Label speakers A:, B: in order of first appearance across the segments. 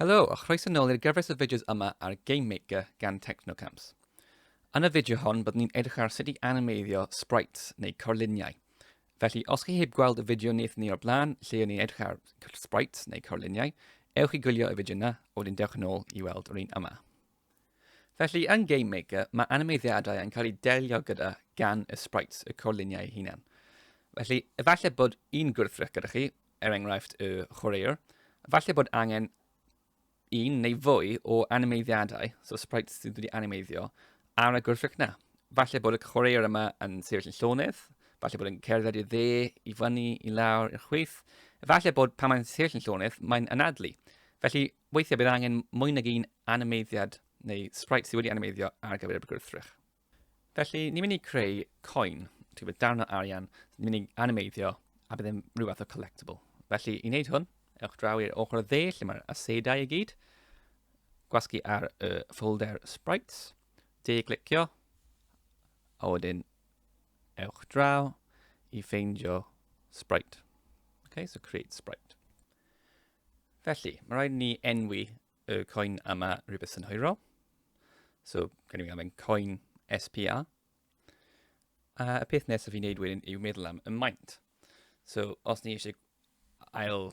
A: Helo a chroeso nôl i'r gyfres o fideos yma ar Game Maker gan Technocams. Yn y fideo hon byddwn ni'n edrych ar sut i animeiddio sprites neu corluniau. Felly os chi heb gweld y fideo wnaethon ni o'r blaen lle o'n ni'n edrych ar sprites neu corluniau, ewch i gwylio y fideo yna, wedyn dewch yn ôl i weld yr un yma. Felly, yn Game Maker, mae animeiddiadau yn cael eu delio gyda gan y sprites y corluniau eu hunain. Felly, efallai bod un gwrthrych gyda chi, er enghraifft y chwaraewr, efallai bod angen un neu fwy o animeiddiadau, so sprites sydd wedi animeiddio, ar y gwrthrych na. Falle bod y chwaraewr yma yn sefyll yn llonydd, falle bod yn cerdded i dde, i fyny, i lawr, i'r chwith. Falle bod pan mae'n sefyll yn llonydd, mae'n anadlu. Felly, Weithiau bydd angen mwy nag un animeiddiad neu sprite sydd wedi animeiddio ar gyfer y gwrthrych. Felly, ni'n mynd i creu coin, ti'n gwybod, darn o arian, ni'n mynd i animeiddio a bydd yn rhyw fath o collectible. Felly, i wneud hwn, ewch draw i'r ochr o dde lle mae'r asedau i gyd, gwasgu ar y folder sprites, de glicio, a wedyn ewch draw i ffeindio sprite. Okay, so create sprite. Felly, mae rhaid ni enwi y coin yma rhywbeth synhwyrol. So, gan i fi anfen coin SPA. A y peth nesaf i wneud wedyn yw meddwl am y maint. So, os ni eisiau ail,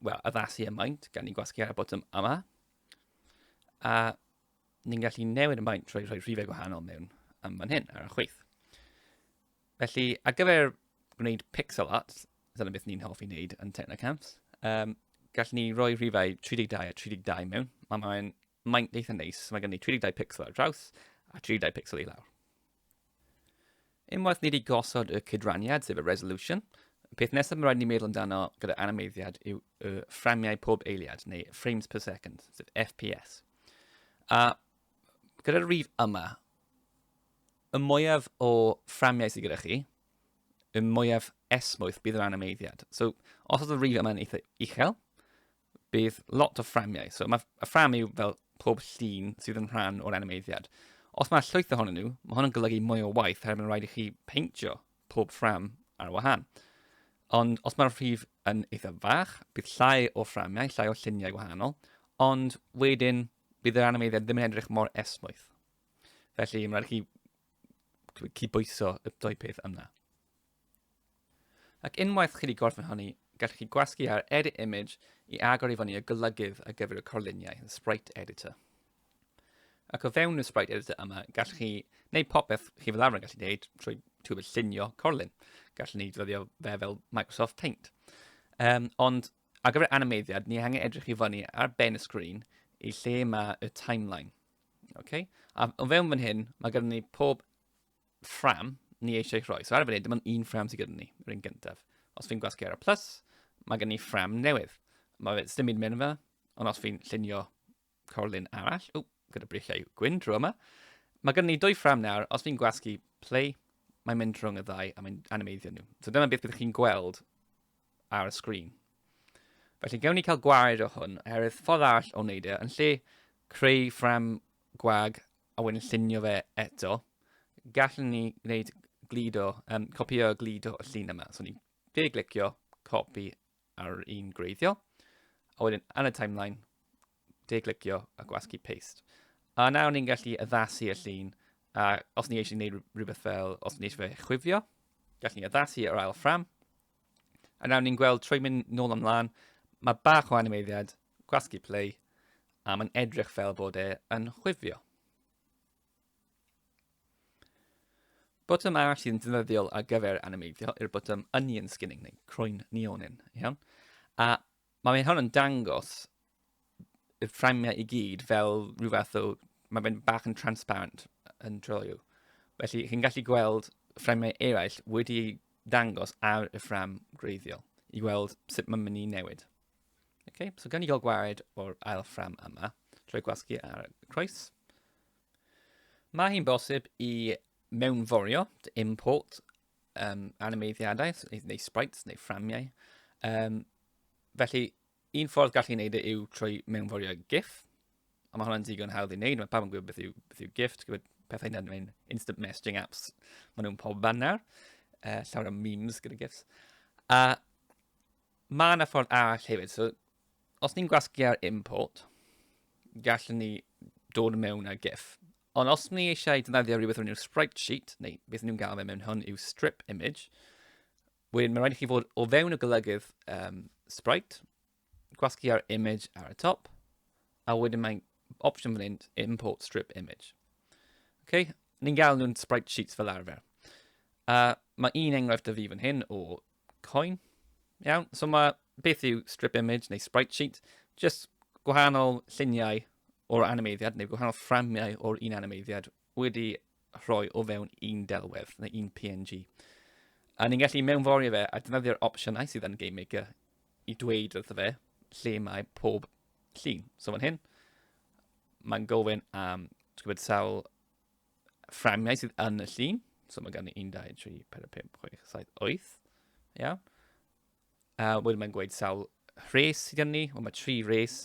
A: well, addasu y maint, gan ni gwasgu ar y botwm yma. A ni'n gallu newid y maint trwy rhoi rhifau gwahanol mewn am fan hyn ar y chwyth. Felly, ar gyfer gwneud pixel art, dyna beth ni'n hoffi wneud yn Technocamps, um, gallwn ni roi rhifau 32 a 32 mewn. Mae mae'n maint eitha neis, mae gen i 32 pixel ar draws a 32 pixel i lawr. Unwaith ni wedi gosod y cydraniad, sef y resolution, y peth nesaf mae rhaid ni meddwl amdano gyda animeiddiad yw y fframiau pob eiliad, neu frames per second, sef FPS. A gyda'r rif yma, Y mwyaf o fframiau sydd gyda chi, y mwyaf esmwyth bydd yr animeiddiad. So, os oedd y rif yma'n eitha uchel, bydd lot o fframiau. So, mae y ffram yw fel pob llun sydd yn rhan o'r animeiddiad. Os mae llwyth ohonyn nhw, mae hwn yn golygu mwy o waith oherwydd mae'n rhaid i chi peintio pob ffram ar wahân. Ond os mae'r rhif yn eitha fach, bydd llai o fframiau, llai o lluniau gwahanol, ond wedyn bydd yr animeiddiad ddim yn edrych mor esmwyth. Felly, mae'n rhaid chi cydbwyso y dwy peth yna. Ac unwaith chi wedi gorffen hynny, gallwch chi gwasgu ar Edit Image i agor i fyny y golygydd ar gyfer y corluniau, y Sprite Editor. Ac o fewn y Sprite Editor yma, gallwch chi wneud popeth chi fel arfer yn gallu gwneud trwy tŵl llunio corlun. Gallwn ni ddefnyddio fe fel Microsoft Paint. Um, ond ar gyfer animeiddiad, ni angen edrych i fyny ar ben y sgrin i lle mae y timeline. Okay. A o fewn fan hyn, mae gyda ni pob ffram ni eisiau rhoi. So ar y funud, dim ond un ffram sydd gyda ni, yr un gyntaf. Os fi'n gwasgu ar y plus, mae gen i ffram newydd. Mae fe ddim yn mynd fe, ond os fi'n llunio corlun arall, o, gyda brichiau gwyn drwy yma, mae gen i dwy ffram nawr, os fi'n gwasgu play, mae'n mynd rhwng y ddau a mae'n animeiddio nhw. So dyna beth byddwch chi'n gweld ar y sgrin. Felly gewn ni cael gwaed o hwn, oherwydd ffordd all o wneud e, yn lle creu ffram gwag a wedyn llunio fe eto, gallwn ni gwneud glido, um, copio y glido y llun yma. So ni'n fe glicio, copi ar un greiddiol, a wedyn yn y timeline, de glicio a gwasgu paste. A nawr ni'n gallu addasu y llun, a os ni eisiau gwneud rhywbeth fel, os ni eisiau fe chwifio, gallwn ni addasu yr ail ffram, A nawr ni'n gweld, trwy mynd nôl ymlaen, mae bach o animeiddiad, gwasgu play, a mae'n edrych fel bod e yn chwifio. Botwm arall sydd yn ddefnyddiol ar gyfer animeiddio yw'r botwm onion skinning neu croen neonin, iawn? A Mae fe'n hwn yn dangos y fframiau i gyd fel rhyw fath o... Mae fe'n bach yn transparent yn Trello. Felly, chi'n gallu gweld fframiau eraill wedi eu dangos ar y ffram gwreiddiol i weld sut mae'n mynd i newid. Okay, so gan i gael gwared o'r ail ffram yma, trwy gwasgu ar y croes. Mae hi'n bosib i mewnforio, to import, um, animeiddiadau, neu, neu sprites, neu fframiau. Um, felly, un ffordd gallu gwneud e yw trwy mewnforio GIF, a mae hwnna'n digon hawdd i wneud, mae pawb yn gwybod beth yw, beth yw GIF, ti'n gwybod pethau yna yn instant messaging apps, maen nhw'n pob fan nawr, uh, llawer o memes gyda GIFs. A mae yna ffordd arall hefyd, so os ni'n gwasgu ar import, gallwn ni dod mewn a GIF. Ond os ni eisiau defnyddio rhywbeth o'r enw sprite sheet, neu beth ni'n gael fe mewn hwn yw strip image, wedyn mae'n rhaid i chi fod o fewn y golygydd um, sprite, gwasgu ar image ar y top, a wedyn mae'n opsiwn fan hyn, import strip image. Okay? Ni'n gael nhw'n sprite sheets fel arfer. Uh, mae un enghraifft o fi fan hyn o Coin. Iawn, so mae beth yw strip image neu sprite sheet, just gwahanol lluniau o'r animeiddiad neu gwahanol fframiau o'r un animeiddiad wedi rhoi o fewn un delwedd neu un PNG. A ni'n gallu mewnforio fe a defnyddio'r opsiynau sydd yn Game Maker i dweud wrtho fe lle mae pob llun. So fan hyn, mae'n gofyn am gwybod sawl fframiau sydd yn y llun. So mae gan i 1, 2, 3, 4, 5, 6, 7, 8. Iawn. A wedyn mae'n gweud sawl rhes sydd gen ni. Wel, mae tri rhes.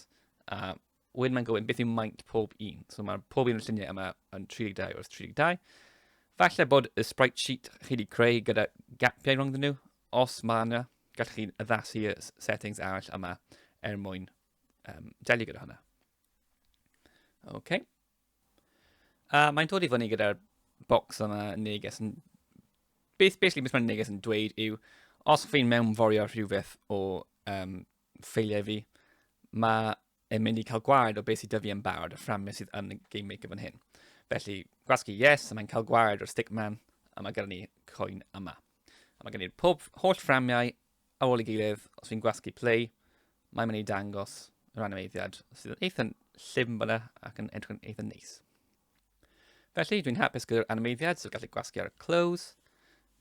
A: A wedyn mae'n gofyn beth yw maint pob un. So mae pob un o'r lluniau yma yn 32 wrth 32. Falle bod y sprite sheet chi wedi creu gyda gapiau rhwng nhw. Os mae yna, gallwch chi addasu y settings arall yma er mwyn um, delio gyda hwnna. OK, A mae'n dod i fyny gyda'r bocs yma yn neges yn... Beth basically beth mae'n neges yn dweud yw, os fi'n mewnforio rhywbeth o um, ffeiliau fi, mae e'n mynd i cael gwared o beth sydd dyfu yn barod, y fframau sydd yn y Game Maker fan hyn. Felly, gwasgu yes, a mae'n cael gwared o'r stickman, a mae gyda ni coen yma. A mae gen i'r pob holl fframiau Ar ôl ei gilydd, os fi'n gwasgu play, mae'n mynd i dangos yr animeiddiad sydd yn eitha llifn fyna ac yn edrych yn eitha neis. Felly, dwi'n hapus gyda'r animeiddiad, so gallai gwasgu ar y clothes,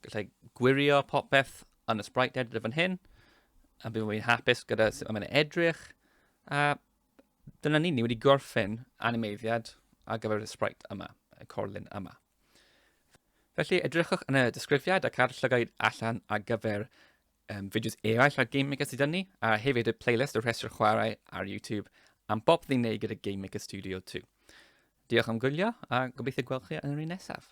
A: gallai gwirio popeth yn y sprite editor fan hyn, a bydd fi'n hapus gyda sut mae'n edrych, a dyna ni, ni wedi gorffen animeiddiad ar gyfer y sprite yma, y corlun yma. Felly, edrychwch yn y disgrifiad ac ar llygaid allan ar gyfer um, fideos eraill ar Game Maker sydd ni, a hefyd y playlist o rhestr chwarae ar YouTube am bob ddi'n neud gyda Game Maker Studio 2. Diolch am gwylio a gobeithio gweld chi yn yr un nesaf.